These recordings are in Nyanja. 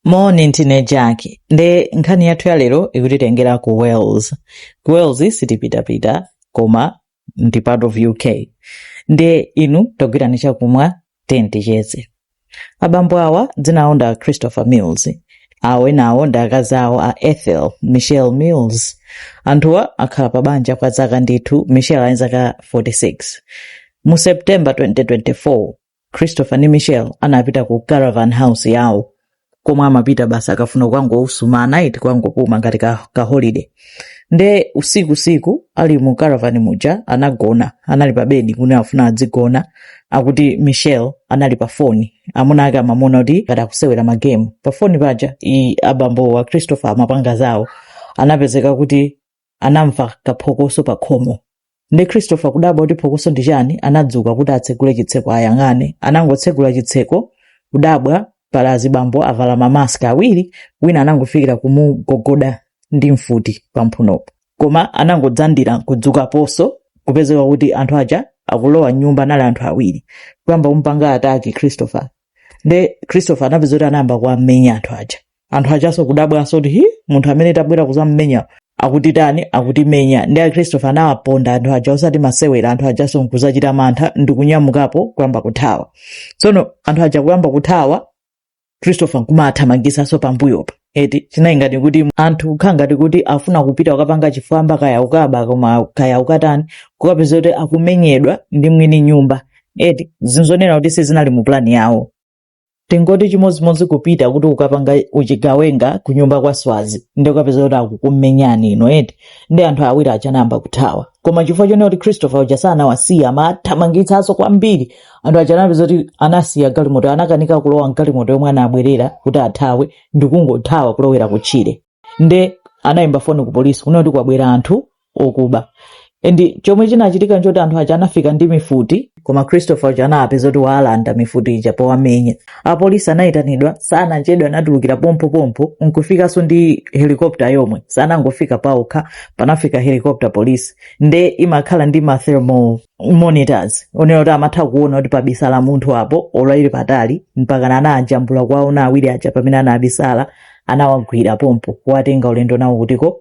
moni ndine jack ndiye nkhani yathu ya lero ikutitengera ku wales ku wales sitipitapita koma ndi part of uk ndiye inu tagwirani chakumwa tiyeni ticheze abambo awa dzina awo ndi a christopher mills awo enawo ndi akazi awo a ethel michelle mills anthuwa akhala pa banja kwa zaka ndithu michelle ali ndi zaka 46 mu september 2024 christopher ndi michelle anapita ku caravan house yawo komwe amapita basi akafuna kukangousuma anaiti kukangopuma ngati ka, ka holiday nde usiku siku ali mu caravan muja anagona anali pa bedi kuti afuna adzigona akuti michelle anali pa foni amuna ake amamuona kuti ngati akusewera magemu pa foni paja abambowa christopher amapanga zawo anapezeka kuti anamva kaphokoso pa khomo nde christopher kudabwa kuti phokoso ndi chani anadzuka kuti atsegule chitseko ayang'ane anangotsegula chitseko kudabwa pali azibambo avala mamask awiri wina anangofikira kumugogoda ndi mfuti pamphunopo koma anangodzandira kudzukaponso kupezeka kuti anthu aja akulowa mnyumba anali anthu awiri kuyamba kumpanga ataki christopher nde christopher anapezeka kuti anayamba kuwamenya anthu aja anthu ajanso kudabwanso kuti hi munthu amene tabwera kuzammenya akutitani akutimenya nde christopher anawaponda anthu aja osati masewera anthu ajanso nkuzachita mantha ndi kunyamukapo kuyamba kuthawa tsono anthu aja kuyamba kuthawa christopher nkumathamangisanso pambuyopa eti chinayi ngati kuti anthu kukhala ngati kuti afuna kupita kukapanga chifwamba kaya ukaba koma kaya ukatani kukapeza kuti akumenyedwa ndi mwini nyumba eti zimaoneka kuti sizinali mu plani yawo tingoti chimodzimodzi kupita kuti ukapanga uchigawenga kunyumba kwa swazi ndi ukapeza kuti akukumenyani inuyo eti nde anthu awiri aja anayamba kuthawa koma chifukwa chonena kuti christopher uja sanawasiya amawathamangitsanso kwambiri anthu aja anapezeka kuti anasiya galimoto anakanika kulowa mgalimoto yomwe anabwerera kuti athawe ndikungothawa kulowera kutchire nde anayimba foni ku polisi kunena kuti kwabwera anthu okuba and chomwe chinachitika nchoti anthu aja anafika ndi mifuti koma christopher uja anapezeka kuti waalanda mifuti ija powamenya apolisi anayitanidwa sanachedwe anatulukira pompopompo nkufikanso ndi helikopta yomwe sanangofika paokha panafika helikopta polisi nde imakhala ndi ma thermal monitors onena kuti amatha kuona kuti pabisala munthu apo olo ali patali mpakana anajambula kuwaona awiri aja pamene anabisala anawagwira pompo kuwatenga ulendo nawo kutiko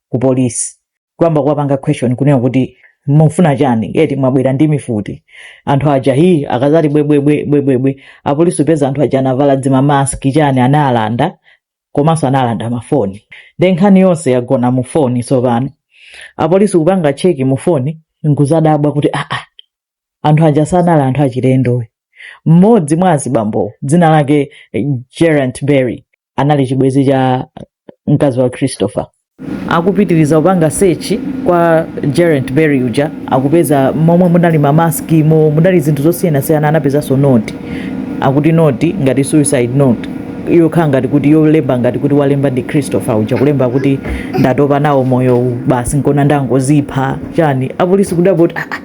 ku polisi kuyamba kuwapanga question kunena kuti mufuna chani eti mwabwera ndi mifuti anthu aja hi akadzati bwebwebwe bwebwebwe apolisi kupeza anthu aja anavala zimamaski chani anaalanda komanso analanda mafoni nde nkhani yonse yagona mu foni tsopano apolisi kupanga cheki mu foni nkuzadabwa kuti aa anthu aja sanali anthu achilendo mmodzi mwa azibambowo dzina lake eh, geraint berry anali chibwenzi cha mkazi wa christopher akupitiliza kupanga search kwa Geraint Berry uja akupeza momwe munali ma mask mo munali zinthu zosiyana siyana anapezanso note akuti note ngati suicide note yokhala ngati kuti yolemba ngati kuti walemba ndi Christopher uja kulemba kuti ndatopa nawo moyo uwu basi nkona ndangozipha chani apolisi kudabwa kuti "Ah, ah,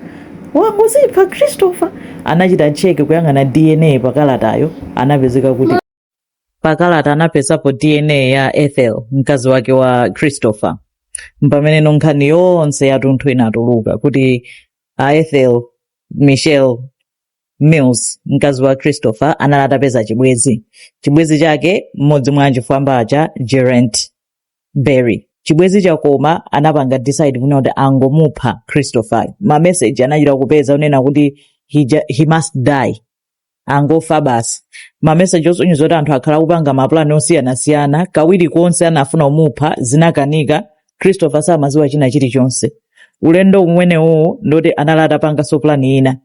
wangozipha Christopher anachita cheke kuyang'ana DNA pakalatayo anapezeka kuti pakalata anapezapo dna ya ethel mkazi wake wa christopher mpameneno nkhani yonse yatunthu inatuluka kuti a ethel michelle mills mkazi wa christopher anali atapeza chibwezi chibwezi chake mmodzi mwa achifwamba aja geraint berry chibwezi chakoma anapanga decide kunena kuti angomupha christopher mameseji anachita kupeza unena kuti he, ju- he must die angofa basi mameseji osonyeza kuti anthu akhala akupanga mapulani osiyanasiyana kawiri konse anafuna kumupha zinakanika christopher samaziwa china chilichonse ulendo umenewowo ndoti anali atapanganso pulani ina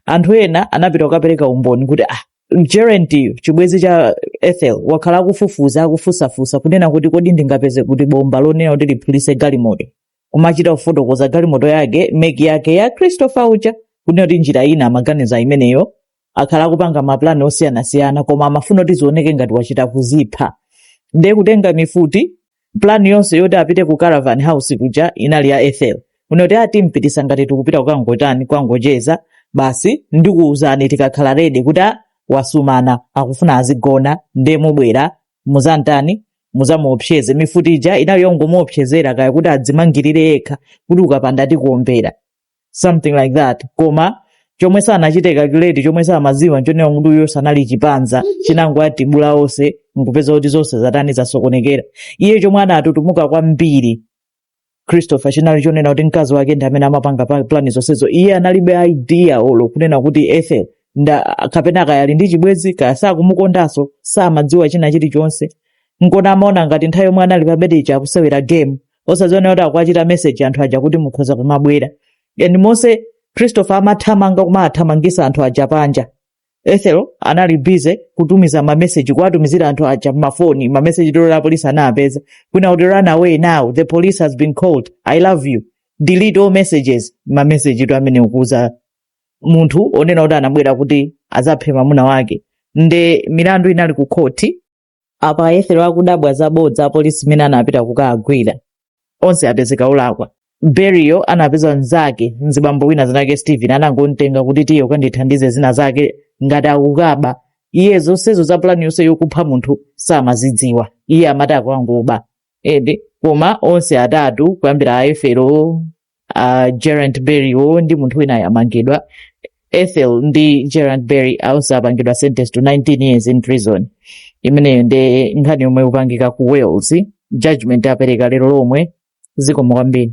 anthu ena anapita kukapereka umboni kuti ah geraintiyo chibwezi cha ethel wakhala akufufuza akufusafusa kunena kuti kodi ndingapeze kuti bomba lonena kuti liphulise galimoto kumachita kufotokoza galimoto yake meki yake ya christopher uja kunena kuti njira ina amaganiza imeneyo akhala akupanga mapulani osiyanasiyana koma amafuna kuti zioneke ngati wachita kuzipha ndiye kutenga mifuti pulani yonse yoti apite ku caravan house kuja inali ya ethel kunena kuti ati mpitisa ngati tikupita kukangotani kukangocheza basi ndikuwuzani tikakhala ready kuti "Ah, wasumana akufuna azigona ndiye mubwera muzantani muzamuopseze mifuti ija inali yongomuopsezera kaya kuti adzimangirire yekha kuti ukapanda tikuombera something like that koma chomwe sanachite calculate chomwe samaziwa nchonena kuti uyo sanali chipanza chinangowatibula onse nkupeza kuti zonse zatani zasokonekera iye chomwe anatutumuka kwambiri christopher chinali chonena kuti mkazi wake ndi amene amapanga pa- plani zonsezo iye analibe idea olo kunena kuti ethel kapena kaya ali ndi chibwenzi kaya sakumukondanso samadziwa china chilichonse nkona amaona ngati nthawi yomwe anali pa bedi akusewera game osaziona kuti akuwachita message anthu aja kuti mukhoza kumabwera and monse christopher amathamanga kumaathamangisa anthu aja panja ethel anali busy kutumiza mameseji kuwatumizira anthu aja mmafoni mameseji tolo apolisi anawapeza kunena kuti run away now the police has been called i love you delete all messages mameseji to amene ukuuza munthu onena kuti anabwera kuti azaphe mamuna wake nde milandu inali ku khoti apa a ethel akudabwa zabodza apolisi imene anapita kukagwira onse apezeka olakwa berry wo anapeza mnzake mzibambo wina zinake stephen anangomtenga kuti tiye ukandithandize zina zake ngati akukaba iye zonsezo za pulani yonse yokupha munthu samazidziwa iye amati akangoba edi koma onse atatu kuyambira a ethel uh, gerant berry wo ndi munthu winayo amangidwa ethel ndi gerant berry onse apangidwa sentenced to 19 years in prison imeneyo ndi nkhani yomwe ikupangika ku wales judgment apereka lero lomwe zikomo kwambiri